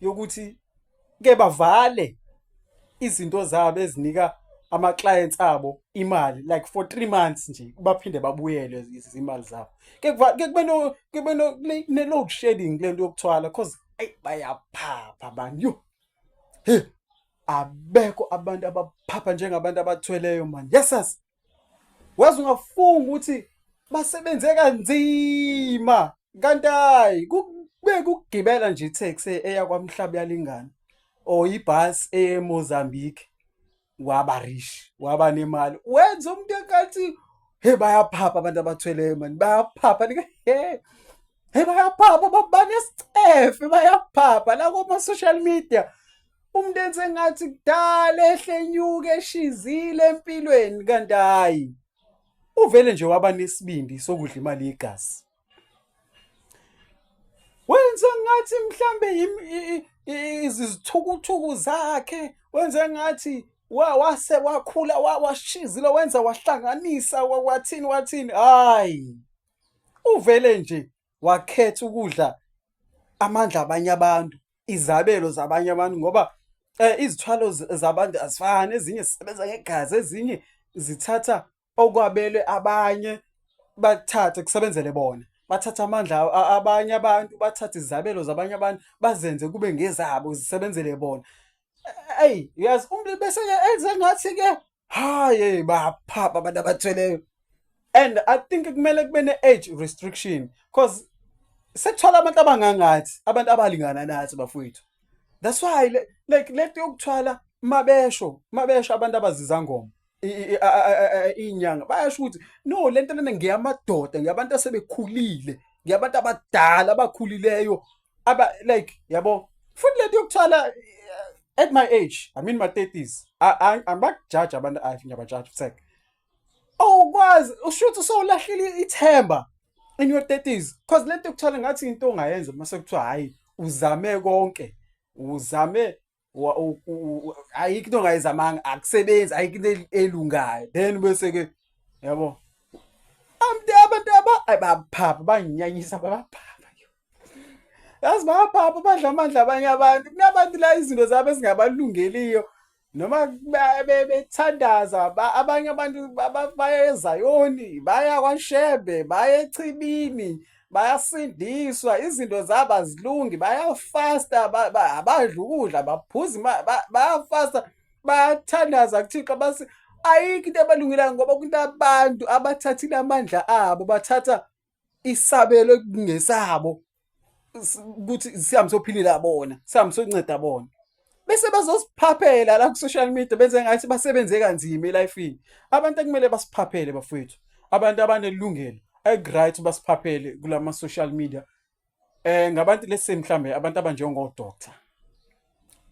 yokuthi ke bavale izinto zabo ezinika ama clients abo imali like for 3 months nje baphinde babuyele izimali zabo ke ke kube no kube no ne load shedding lento yokuthwala cause ay bayaphapha bani yo abekho abantu abaphapha njengabantu abathweleyo man yesas waze ungafunga ukuthi basebenze kanzima kanti hayi kube kugibela nje itaxi eya kwamhlaba yalingana or ibus eye eMozambique waba rich waba nemali wenza umuntu enkathi he bayaphapha abantu abathweleyo mani bayaphapha like he he bayaphapha babanesicefe bayaphapha la kuma social media umuntu enze ngathi kudala ehlenyuke eshizile empilweni kanti hayi uvele nje waba nesibindi sokudla imali yegazi wenza ngathi mhlambe izithukuthuku zakhe wenza ngathi wase wakhula washizile wenza wahlanganisa wathini wathini hayi uvele nje wakhetha ukudla amandla abanye abantu izabelo zabanye abantu ngoba eh izithwalo zabantu azifani ezinye zisebenza ngegazi ezinye zithatha okwabelwe abanye bathathe kusebenzele bona bathatha amandla abanye abantu bathathe izabelo zabanye abantu bazenze kube ngezabo zisebenzele bona eyi uyazi umuntu bese enze ngathi ke haye baphapha abantu abathweleyo and i think kumele kube ne-age restriction because sekuthola abantu abangangathi abantu abalingana nathi bafowethu that's why le- like lento yokuthwala mabesho mabesho abantu abazizangoma i- i- a- a- a- a- inyanga bayasho ukuthi no lento lena ngeyamadoda ngeyabantu asebekhulile ngeyabantu abadala abakhulileyo aba like yabo futhi lento yokuthwala eh, at my age i mean my 30s angibakujaji abantu i think abajaji futhi awukwazi ushuthi usowulahlile ithemba in your 30s because lento yokuthwala ngathi into ongayenza uma sekuthiwa hayi uzame konke uzame ayikho into ongayizamanga akusebenzi ayikho into elungayo then bese ke yabo amntu abantu abaphapha banginyanyisa babaphapha yazi babaphapha badla amandla abanye abantu kunabantu la izinto zabo ezingabalungeliyo noma bethandaza abanye abantu baya ezayoni baya kwashebe baya echibini bayasindiswa izinto zabo azilungi bayafasta abadla ukudla baphuza bayafasta bayathandaza kuthixo basi ayikho into ebalungelayo ngoba kunabantu abathathile amandla abo bathatha isabelo kungesabo ukuthi sihambe sophilila bona sihambe sonceda bona bese bazosiphaphela la ku-social media benze ngathi basebenze kanzima elifini abantu ekumele basiphaphele bafowethu abantu abanelungelo eku-right basiphaphele kula ma-social media um ngabantu lesi mhlawumbe abantu abanjengodoctor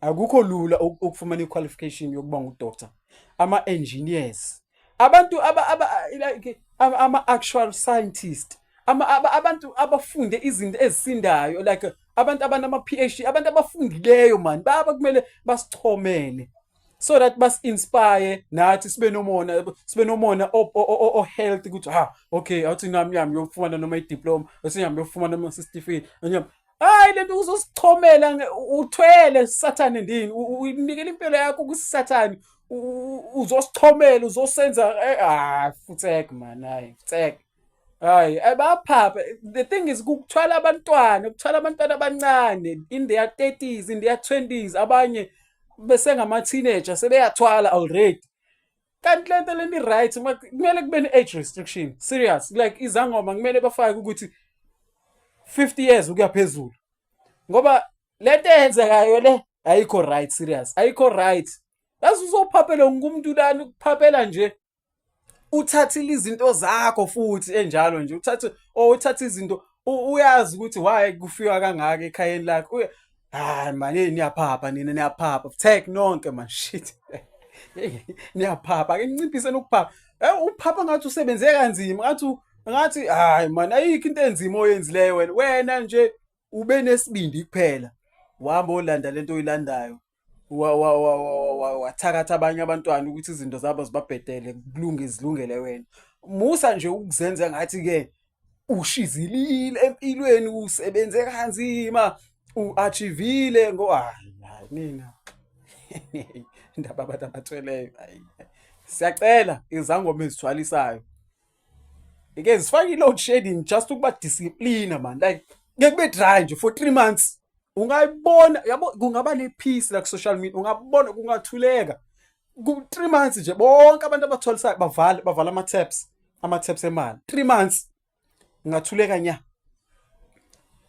akukho lula ukufumana i-qualification yokuba ngudoctor ama-engineers abantu aba aba like ama actual scientist ama abantu abafunde izinto ezisindayo like abantu abanama PhD abantu abafundileyo man baba kumele basichomele so that bas inspire nathi sibe nomona sibe nomona o, o, o, o health ukuthi ha okay awuthi nami yami yofumana noma idiploma usiyami yofumana noma certificate hayi lento uzosichomela uthwele sathane ndini uyinikela impilo yakho kusathane uzosichomela uzosenza eh, ah futsek man hayi futsek hayi eh, baphapha the thing is kuthwala abantwana kuthwala abantwana abancane in their 30s in their 20s abanye besengama teenager sebeyathwala already kanti le nto leni right kumele kube ne-age restriction serious like izangoma kumele bafake ukuthi 50 years ukuya phezulu ngoba le nto eyenzekayo le ayikho right serious ayikho right yazi uzophaphela wonke umuntu lani ukuphaphela nje uthathile izinto zakho futhi enjalo nje uthathe or oh, uthathe izinto uyazi ukuthi why kufiwa kangaka ekhayeni lakho hayi mani niyaphapha nina niyaphapha tek nonke man shit niyaphapha ke ninciphise nokuphapha eh uphapha ngathi usebenze kanzima ngathi ngathi hayi mani ayikho into enzima oyenzileyo wena wena nje ube nesibindi kuphela uhamba olanda lento oyilandayo wathakatha abanye abantwana ukuthi izinto zabo zibabhedele kulunge zilungele wena musa nje ukuzenza ngathi ke ushizilile empilweni usebenze kanzima uachivile ngo hayi hayi mina indaba abantu abathweleyo hayi siyacela izangoma ezithwalisayo ike zifake i-load shedding just ukuba discipline man like ngeke kube dry nje for 3 months ungayibona yabo kungaba ne peace la ku social media ungabona kungathuleka ku 3 months nje bonke abantu abathwalisayo bavala bavala ama taps ama taps emali 3 months ngathuleka nya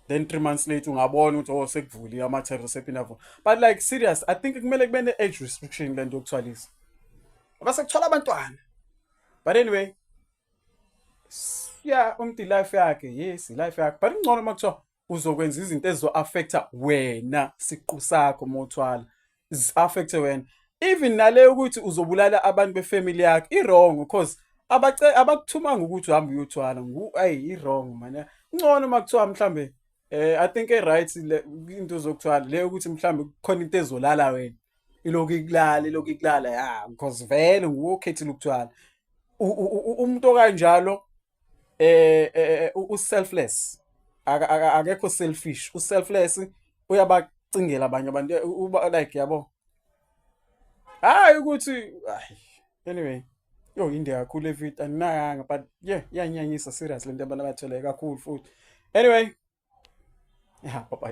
then 3 months later ungabona ukuthi oh sekuvuliwe ama taps asephinda vula but like serious i think kumele kube ne age restriction lento yokuthwalisa base kuthola abantwana but anyway yeah umntu life yakhe yes life yakhe but ingcono makuthiwa uzokwenza izinto ezizo-affecta wena siqu sakho uma uthwala zi-affecte wena even nale ukuthi uzobulala abantu befamily yakho i-wrong because abakuthumanga ukuthi uhambe uyothwala ayi i-wrong mane ngcono uma kuthiwa mhlawumbe eh i think e-right into zokuthwala le ukuthi mhlawumbe kukhona into ezolala wena ilokhu ikulala ilokhu ikulala ya because vele nguwe okhethile ukuthwala umuntu okanjalo eh, eh, eh u selfless akekho selfish u selfless uyabacingela abanye abantu uba like yabo hayi ukuthi anyway yo inde kakhulu evit andinayanga but yeah iyanyanyisa serious lento abantu abathwele kakhulu futhi anyway ya baba